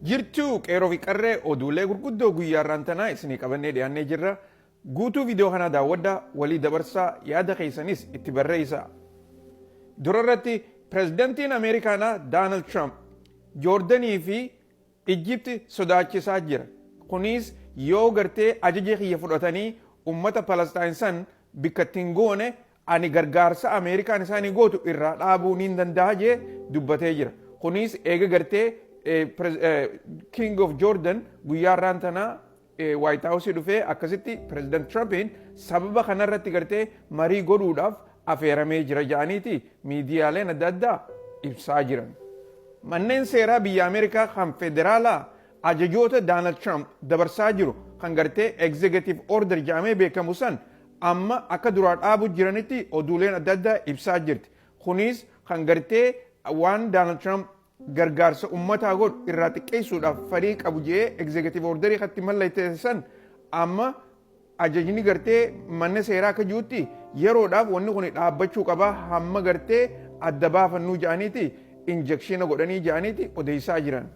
Jirtuu qeeroo fi qarree oduulee gurguddoo guyyaa irraan tanaa isinii qabannee dhiyaannee jirra. Guutuu viidiyoo kanaa daawwadhaa, walii dabarsaa, yaada keessanis itti barreessaa. Dura irratti pirezidantiin Ameerikaanaa Daanald Tiraamp Joordanii fi Ijjipti sodaachisaa jira. Kunis yoo gartee ajaja kiyya fudhatanii ummata Palastaayin san bikkatti hin goone Ani gargaarsa Ameerikaan isaanii gootu irraa dhaabuu niin danda'a jee dubbatee jira. Kuniis eega gartee King of Jordan guyyaa irraan tanaa Waayit Haawusii dhufee akkasitti Pireezidant Tiraampiin sababa kanarratti gartee marii godhuudhaaf afeeramee jira jedhaniiti miidiyaaleen adda addaa ibsaa jiran. Manneen seeraa biyya Ameerikaa kan federaalaa ajajoota Daanald Tiraamp dabarsaa jiru kan gartee egzeegatiiv order jedhamee beekamu san amma akka duraa dhaabu jiranitti oduuleen adda addaa ibsaa jirti. Kuniis kan gartee waan Daanald Tiraamp gargaarsa ummataa godhu irraa xiqqeessuudhaaf farii qabu jedhee egzeekatiiv ordarii katti mallatteessan amma ajajni gartee manna seeraa akka jirutti yeroodhaaf wanni kun dhaabbachuu qaba hamma gartee adda baafannuu jedhaniiti injekshiina godhanii jedhaniiti odeessaa jiran.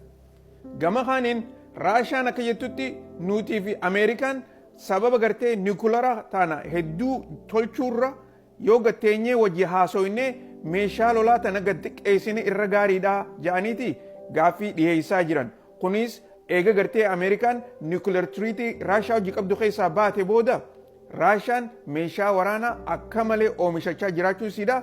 Gama kaaniin Raashaan akka jettutti nuutii fi Ameerikaan sababa gartee niwukilaraa taana hedduu tolchuurra yoo gad teenyee wajji haasoyne meeshaa lolaa tana gad xiqqeessine irra gaariidha ja'aniiti gaaffii dhiheessaa jiran. Kunis eega gartee Ameerikaan niwukilar tiriitii Raashaa wajji qabdu keessaa baate booda Raashaan meeshaa waraanaa akka malee oomishachaa jiraachuu isiidha.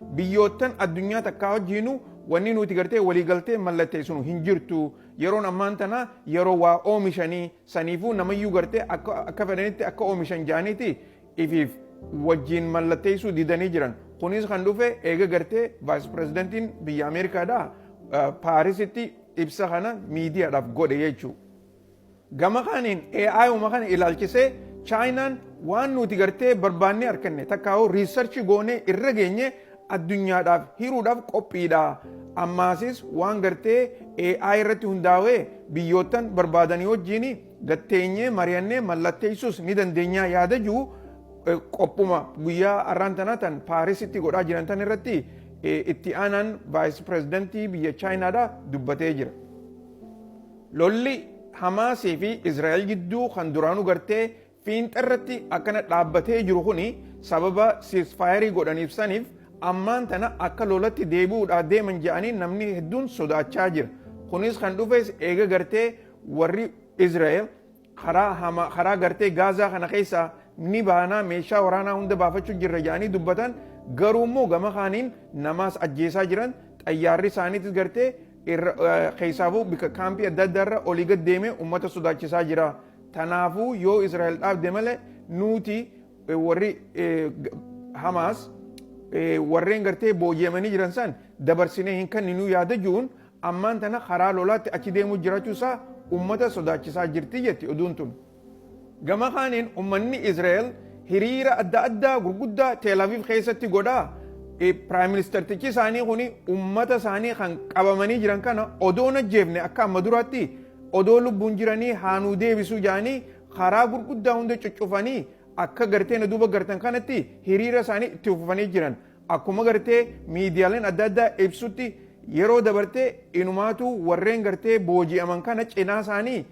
Biyyoottan addunyaa takkaa wajjiinu wanni nuti gartee walii galtee mallatteessinu hin jirtu. Yeroon ammaan tanaa yeroo waa oomishanii saniifuu namayyuu gartee akka akka fedhanitti akka oomishan ja'aniiti ifiif wajjiin mallatteessuu didanii jiran. Kunis kan dhufe eega gartee vaayis pirezidantiin biyya Ameerikaadhaa Paarisitti ibsa kana miidiyaadhaaf godhe jechuudha. Gama kaaniin AI uma kana ilaalchisee Chaayinaan waan nuti gartee barbaannee arkanne takkaahuu riissarchi goonee irra geenye addunyaadhaaf hiruudhaaf qophiidha. Ammaasis waan gartee AI irratti hundaawee biyyoottan barbaadanii wajjiin gad teenyee mariyannee mallatteessuus ni dandeenya yaada jiru qophuma guyyaa har'aan tana tan Paarisitti godhaa jiran tan irratti itti aanaan vaayis pirezidantii biyya Chaayinaadha dubbatee jira. Lolli Hamaas fi Israa'el gidduu kan duraanuu gartee fiinxarratti akkana dhaabbatee jiru kuni sababa siisfaayerii godhaniif saniif ammaan tana akka lolatti deebi'uudhaa deeman jedhanii namni hedduun sodaachaa jira. Kunis kan dhufes eega gartee warri Israa'el Karaa hamaa, karaa gartee Gaazaa kana keessaa ni baanaa, meeshaa waraanaa hunda baafachuu jirra jedhanii dubbatan, garuu immoo gama kaaniin namaas ajjeesaa jiran, xayyaarri isaaniitis gartee keessaafuu bika kaampii adda addaa irra olii gad deemee uummata sodaachisaa jira. Tanaafuu yoo Israa'el dhaabde malee nuuti warri Hamaas warreen gartee booji'amanii jiran san dabarsinee hin kenninuu yaada jiruun ammaan tana karaa lolaatti achi deemuu jiraachuu isaa ummata sodaachisaa jirti jetti oduun tun. Gama kaaniin ummanni Izraa'el hiriira adda addaa gurguddaa Tel Aviv keessatti godhaa Piraayim Ministartichi isaanii kun ummata isaanii kan qabamanii jiran kana odoo hin ajjeefne akka amma duraatti odoo lubbuun jiranii haanuu deebisuu jedhanii karaa gurguddaa hunda cuccufanii akka gartee na duuba gartan kanatti hiriira isaanii itti fufanii jiran. Akkuma gartee miidiyaaleen adda addaa ibsutti yeroo dabarte inumaatuu warreen gartee booji'aman kana cinaa isaanii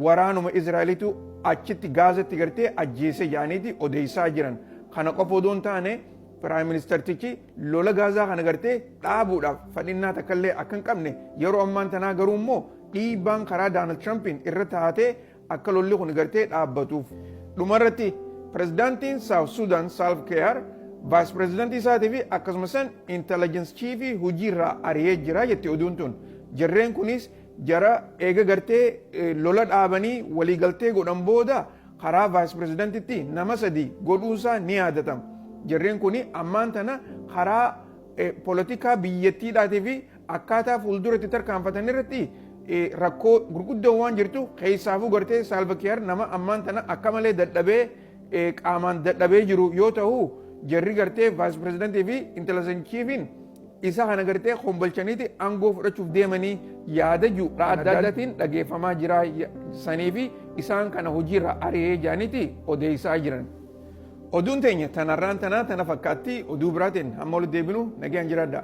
waraanuma Israa'elitu achitti Gaazatti gartee ajjeese jedhaniiti odeessaa jiran. Kana qofa odoo hin taane Piraayim Ministartichi lola Gaazaa kana gartee dhaabuudhaaf fedhinnaa takkallee akka hin qabne yeroo ammaan tanaa garuu immoo dhiibbaan karaa Daanald Tiraampiin irra taatee Akka lolli kun gartee dhaabbatuuf dhumarratti pirezidaantiin Saawut Suudaan Saalv Keeyaar vaayis pirezidaantii isaatii fi akkasumas intelligence chiifii hojiirraa ari'ee jira jetti oduun tun. Jarreen kunis jara eega gartee lola dhaabanii waliigaltee godhan booda karaa vaayis pirezidaantitti nama sadii godhuunsaa ni yaadatama. Jarreen kun ammaan tana karaa poolitikaa biyyattiidhaatii fi Akkaataa fuuldura itti tarkaanfatan irratti rakkoo gurguddoon waan jirtu keessaafuu gartee saalvakiyaar nama ammaan tana akka malee dadhabee qaamaan dadhabee jiru yoo ta'u jarri gartee vaayis pirezidantii fi intala sanchiifiin isa kana gartee kombalchaniiti aangoo fudhachuuf deemanii yaada jiru adda addaatiin dhageeffamaa jira sanii fi isaan kana hojiirra ari'ee jaaniiti odeessaa jiran. Oduun teenya tanarraan tanaa tana fakkaatti oduu biraatiin hamma walitti deebinu nagaan jiraadhaa.